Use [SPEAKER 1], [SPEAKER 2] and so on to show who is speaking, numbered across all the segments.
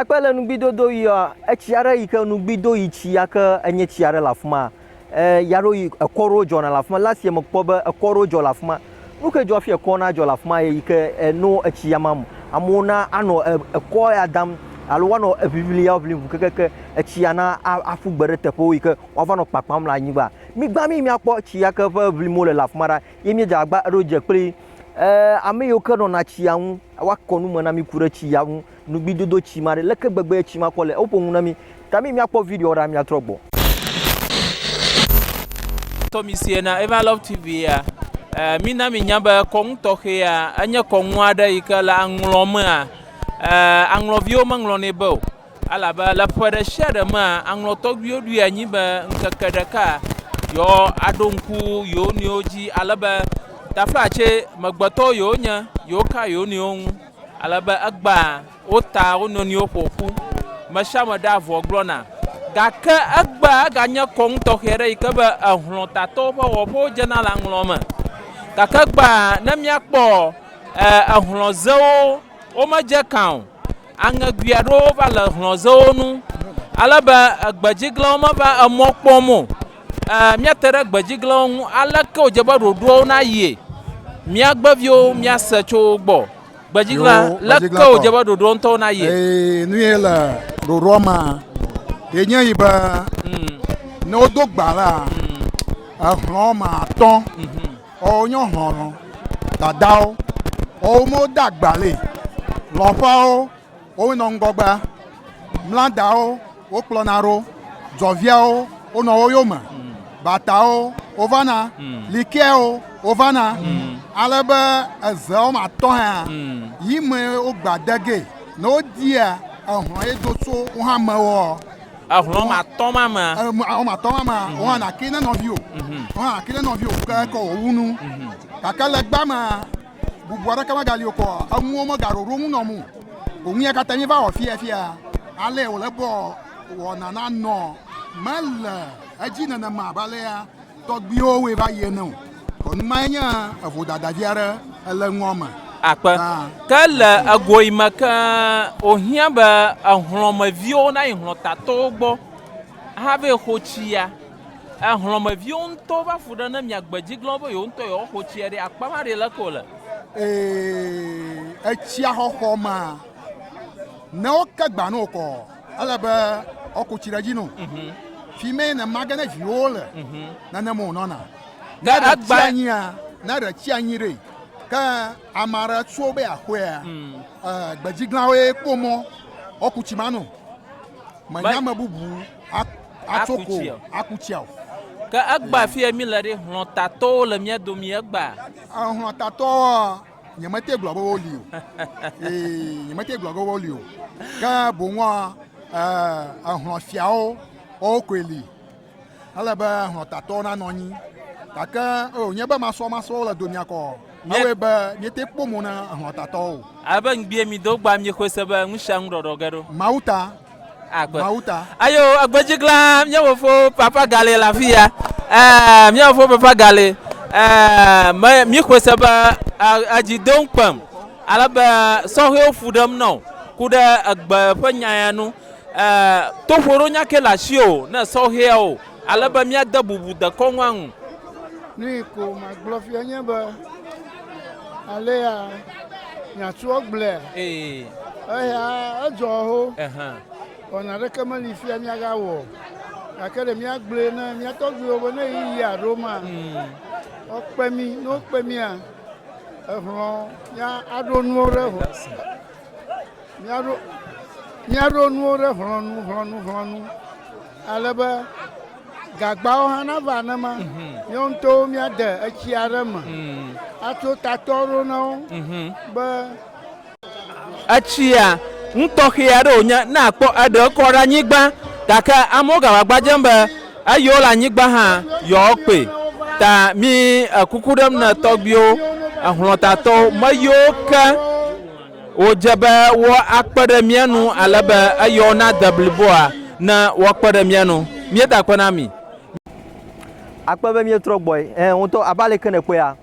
[SPEAKER 1] Ekpe le nugbidodo yia etsi aɖe yi ke nugbido yi tsi ya ke enye tsi aɖe le afi ma. E ya ɖo yi ekɔ ɖewo dzɔna le afi ma. Last year mekpɔ be ekɔ ɖewo dzɔ le afi ma. Nu ke dzɔ hafi ekɔ nadzɔ le afi ma ye yi ke eno etsi ya mam. Amewo na anɔ e ekɔ ya dam alo woanɔ eŋiŋli ya ŋlim ŋu kekeke etsi ya na a aƒu gbe ɖe teƒewo yi ke woava nɔ kpakpam le anyigba. Migba mí míakpɔ tsi ya ke ƒe ŋlim wole le afi ma ɖa ye míedze agbagba ɖo dze kpli e ame yiwo ke nɔna tsia ŋu woakɔ nu me na mí ku ɖe tsi ya ŋu Nugbidodo tsi ma ɖe leke gbegbe tsi ma kɔ le ewo ƒo ŋu na mi ta mi mia kpɔ video ɖa mia trɔ gbɔ.
[SPEAKER 2] Tɔ mi sie na Eva Love TV ya. Eh, mi na mi nya be kɔnu tɔxɛ ya, enye kɔnu aɖe yi ke le aŋlɔ mea, eh, aŋlɔviwo me ŋlɔ nɛ be o. Alabe le ƒe ɖe sia ɖe mea, aŋlɔ tɔgbiwo ɖui anyi be ŋkeke ɖeka yɔ aɖo ŋku yewo nɔewo dzi, alebe taflatse megbetɔwo yewo nye, yewo ka yewo nɔewo ŋu. Ale be egbea wo ta wo nɔnɔewo ƒo ƒu, me sia me ɖea avɔ gblɔna. Gake egbea eganye kɔnu tɔxɛ aɖe yi ke be ehlɔ̃tatɔwo ƒe wɔƒewo dzena le aŋlɔ̃ me. Gake egbea ne míakpɔ ehlɔ̃zewo, womedze ekã o. Aŋegoe aɖewo va le ehlɔ̃zewo ŋu ale be egbedziglãwo meva emɔ kpɔm o. Ɛɛ, míate ɖe gbedziglãwo ŋu. Aleke wòdze be ɖoɖoawo nayie? Míagbe viwo míase tso wo gbɔ. Gbedziglã, Yoo, leke gbedziglãtɔ. wòdze be ɖoɖoawo ŋutɔwo nayie? Ee, nu ye le
[SPEAKER 3] ɖoɖoa mea, ye nye yi be ne wodo gba la, exlɔ̃ woame atɔ̃ ɔ wonye xlɔlɔ̃ dadawo ɔ wo me wode agba le lɔ̃ƒeawo Wowoe nɔ ŋgɔgbea, mla dawo wokplɔna ɖo, dzɔviawo wonɔ wo yome, batawo wovana, likeawo wovana, ale be eze wɔme atɔ̃ hã yi me wogba de ge. Ne wodia ehlɔ̃ ye do tso wo hã me woɔ, Ehlɔ̃ wɔme atɔ̃
[SPEAKER 2] ma mea, e, m- wɔme atɔ̃ ma mea,
[SPEAKER 3] woana ke ne nɔviwò, woana ke ne nɔviwò ke ke wòwu nu. Gake le gbea mea, Bubu aɖeke megali o kɔ enuwo megaɖo ɖo ŋu nɔ mu. Òŋu ya katã mi va wɔ fia fia. Ale wòle bɔ wɔna na nɔ mele edzi nenema abe alea tɔgbuiwo wɔe va yi ene o. Kɔnu mae nye evo dadavi aɖe ele nua me. Akpe.
[SPEAKER 2] Ke le egoe me ke wòhiã be ehlɔ̃meviwo nayi hlɔ̃tatowo gbɔ hafi xo tsi ya. E hlɔ̃meviwo ŋutɔ va fu ɖe ne mia gbe dzi glɔ̃ be yewo ŋutɔ yewoa xo tsia ɖi akpa ma ɖi leke wole. Ee,
[SPEAKER 3] etsia xɔxɔ ma ne wo ke gba no kɔ ele be wo ko tsi ɖe dzi no. Mhm. Fi me ne ma ge ne viwo le mhm. ne ne mo nɔna. Ne ɖe tsi anyi a ne ɖe tsi anyi ɖe ke amara tso be akɔe a mm. eh, gbe dzi glɔ̃ wo ye kpɔ mɔ wo ku tsi ma no. Menya me bubu. aku tsi o. Aku tsi o. Ke egbea
[SPEAKER 2] fi mi le ɖe hlɔtatɔwo le mía domi egbea. Hlɔtatɔwo
[SPEAKER 3] nyemete gblɔ be woli o. Ee nyemete gblɔ be woli o. Ke boŋua ehlɔfiawo wowo koe li. Ele be hlɔtatɔwo nanɔ anyi. Gake o nye be masɔmasɔwo le domia kɔ. Ewe be miete kpɔ mo na hlɔtatɔwo. Abe ŋgbie mi do
[SPEAKER 2] gba mi xɔe se be ŋusia ŋu ɖɔɖɔ ge ɖo. Mawuta.
[SPEAKER 3] Agbe. Mawu ta.
[SPEAKER 2] Ayo agbedzi glã mía fofo papa galɛ le afi ya. Ɛɛ mía fofo papa galɛ. Ɛɛ me mi xɔe se be edzi do ŋkpem ale be sɔhɛwo fu ɖem nɔ ku ɖe egbe ƒe nya ya nu. Ɛɛ toƒoɖo nya ke le asiwò ne sɔhɛwo. Ale be míade bubu dekɔnua ŋu. Nuyi
[SPEAKER 4] ko magblɔ fia nye be alea miatsɔ gblɔe. Eya edzɔ ho. Wɔ naɖeke meli fia miagawɔ. Gake ɖe míagblɔe ne mía tɔgbuiwo be ne ɣeyiɣia ɖo ma, wokpe mí. Ne wokpe mía, ehlɔ̃ mía aɖo nuwo ɖe ho. Míaɖo, míaɖo nuwo ɖe hlɔ̃nu, hlɔ̃nu, hlɔ̃nu ale be gagbawo hã nava nenema. Mhm. Míawo ŋutɔwo míade etsi aɖe me mhm. atso tatɔ ɖo na wo mhm. be. Etsia
[SPEAKER 2] nutɔxɛ aɖe wònye ne àkpɔ eɖe kɔ ɖe anyigba gake amewo gava gbadzem be eyiwo le anyigba hã yewoakpɔe ta mi ekuku ɖem ne tɔgbiwo ehlɔtatɔwo meyiwo ke Wòdze be woakpe ɖe mía nu ale be eyɔ na de bliboa ne woakpe ɖe mía nu. Míeda akpe na mi.
[SPEAKER 1] Akpe be míetrɔ gbɔe. Ẽ, ŋutɔ, abe aleke
[SPEAKER 2] nèkpɔea?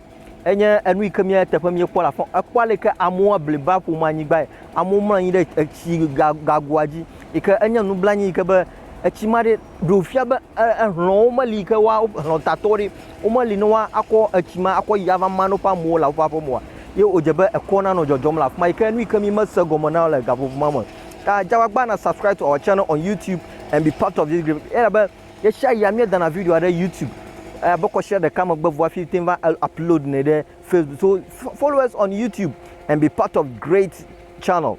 [SPEAKER 1] Enye enu yi ke mía eteƒe míekpɔ le afɔ. Èkpɔ aleke amewo bliba ƒo mo anyigbae. Amewo mlɔ anyi ɖe etsi ga, gagoa dzi yi ke enye nublanui yi ke be etsi ma ɖe. ɖewo fia be ehlɔ̃wo meli yi ke woa hlɔ̃ tatɔ ɖi womeli ne woa akɔ etsi ma akɔ yi ava ma ne woƒe amewo le woƒe aƒe me oa, ye wòdze be ekɔ nanɔ dzɔdzɔm le afi ma yi ke nu yi ke mi mese gɔme na le gaƒoƒo ma me. Ta dze agbagba na subscribe to our channel on YouTube and be part of this group. Elabe ɣesiaɣia míedana video ɖe YouTube abe kɔsia ɖeka megbe vɔ hafi teŋ va upload nɛ ɖe Facebook. So follow us on YouTube and be part of great channel.